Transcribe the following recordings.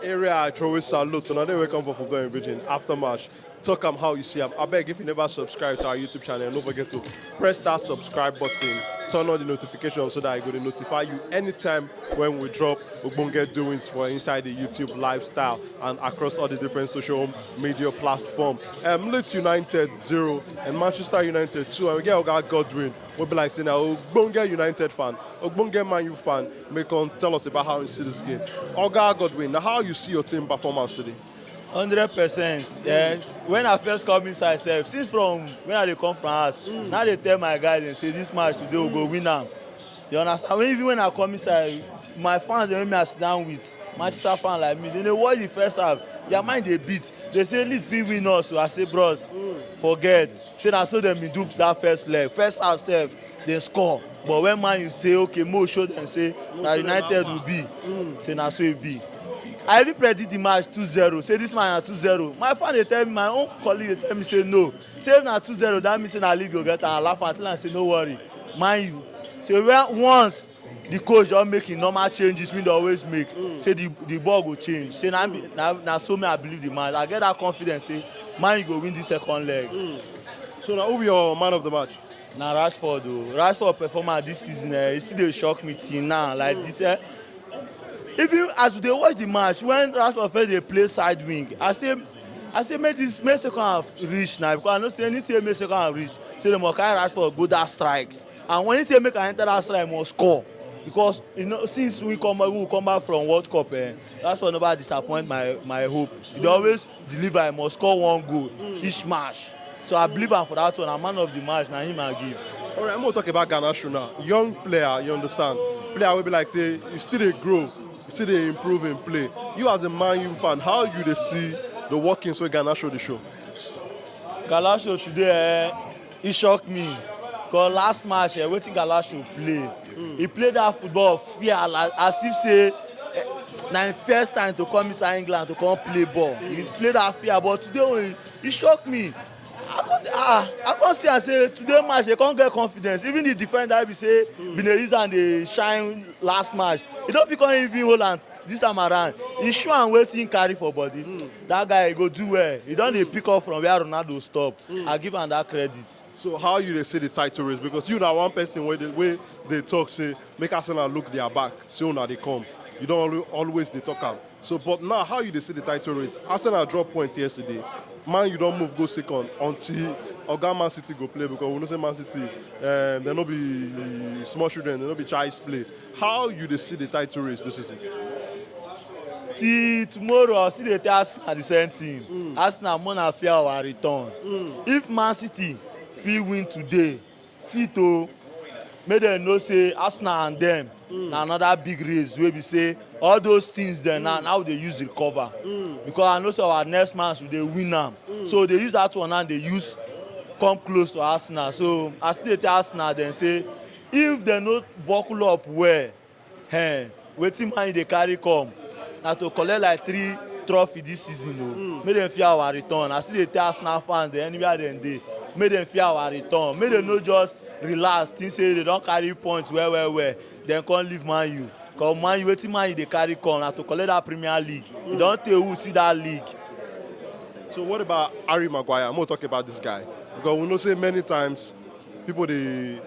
area i throway salute una dey welcome for football and britain after match talk am how you see am abeg if you never subscribe to our youtube channel no forget to press that subscribe button turn on the notification so that i go dey notify you anytime when we drop ogbonge doings for inside the youtube lifestyle and across all the different social media platform um, leeds united zero and manchester united two and we get oga godwin wey be like say na ogbonge united fan ogbonge man u fan May come tell us about how you see this game. Oga Godwin, how you see your team performance today? hundred percent yes when i first come inside sef since from when i dey come from house mm. now dey tell my guys dem say this match today we go win am you understand even when i come inside my fans dey make me as down with Manchester fan like me, dem dey watch the first half, their mind dey beat, dey say Leeds fit win us o, I say bros forget, say na so dem been do that first leg, first half sef dem score but when Man U say okay make we show dem say na United we be, say na so e be. I even predict the match two zero, say this match na two zero, my fan dey tell me, my own colleague dey tell me say no, say if na two zero that mean say na Leeds go get am, I laugh am, I tell am say no worry Man U say once. di coach don make im normal changes wey dey always make mm. say the the ball go change say na na na so me i believe the match i get that confidence say man go win the second leg. Mm. so na who be your man of the match. na rashford o oh. rashford performance this season eh e still dey shock me till now like mm. this eh even as we dey watch the match when rashford first dey play side wing i say i say make this make second half reach na because i know say any say make second half reach say dem go carry rashford go that strikes And when he say make I enter that shrine, I must score. Because you know, since we come back, we come back from World Cup, eh, that's why nobody disappoint my my hope. They always deliver. I must score one goal each match. So I believe am for that one. I'm man of the match. Na him I give. All right, I'm gonna talk about Ghana shoe now. Young player, you understand? Player will be like say you still dey grow, you still dey improve in play. You as a Man U fan, how you dey see the workings wey Ghana show dey show? Galasho today, eh, e shock me cause last match eh, wetin galasho play e play that football fear like as if say eh, na im first time to come inside england to come play ball e play that fear but today when e shock me i come ah i come see am say today match dey come get confidence even the defender wey be say bin dey use am dey shine last match e no fit come even hold am this time around e show am wetin e carry for body that guy go do well he don dey pick up from where ronaldo stop mm. i give am that credit. so how you dey see the title race because you na one person wey dey wey dey talk say make arsenal look their back say una dey come you don always dey talk am so but now how you dey see the title race arsenal drop point yesterday man you don move go second until oga man city go play because we know say man city um, eh, dem no be small children dem no be child's play How you dey see the title race this season? Till tomorrow I still dey tell Arsenal the same thing. Mm. Arsenal more na fear our return. Mm. If Man City fit win today, fit o oh, make dem know say Arsenal and them mm. na another big race wey be say all those things dem now now we dey use recover mm. because i know say our next match we dey win am mm. so dey use that one now dey use come close to arsenal so i still dey tell arsenal dem say If dem no buckle up well, ehn, wetin Man U dey carry come na to collect like three trophy this season o. Make dem fear our return. I still dey tell Arsenal fans dem anywhere dem dey, make dem fear our return. Make dem no just relax think say dem don carry points well well well then come leave Man U. Cos Man U, wetin Man U dey carry come na to collect that Premier League. E don tey wey we see that league. So what about Harry Maguire? Make we talk about this guy because we know say many times People dey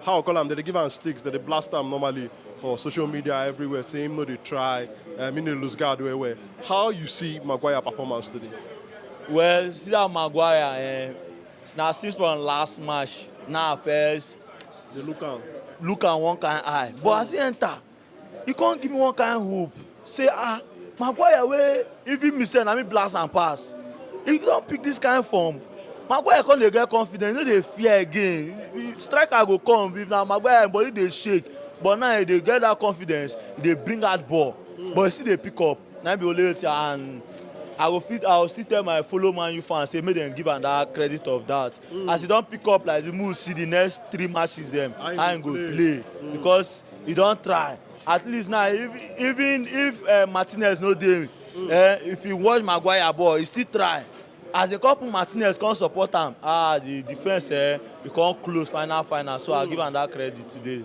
how I call am, dem dey give am sticks, dem dey blast am normally for social media everywhere say him no dey try, um, him dey lose guard well well. How you see Maguire performance today? Well, you see that Maguire, eh, now since from last match, now first Dey look am. look am one kind eye. But as he enter, e come give me one kind hope say ah maguire wey even me sef na me blast am pass e don pick this kind form maguire come dey get confidence no dey fear again if striker go come if na maguire body dey shake but now e dey get that confidence e dey bring out ball but e still dey pick up. Na im be Olaiyetti and I go fit I go still tell my follow Man U fans say make dem give am that credit of that. Mm. As he don pick up like the move see the next three matches them how he go play, play. Mm. because he don try. At least now if, even if uh, Martinez no dey mm. uh, if he watch Maguire ball he still try. As a couple Martinez come support am ah the defence eh, he come close final final so mm. I give am that credit today.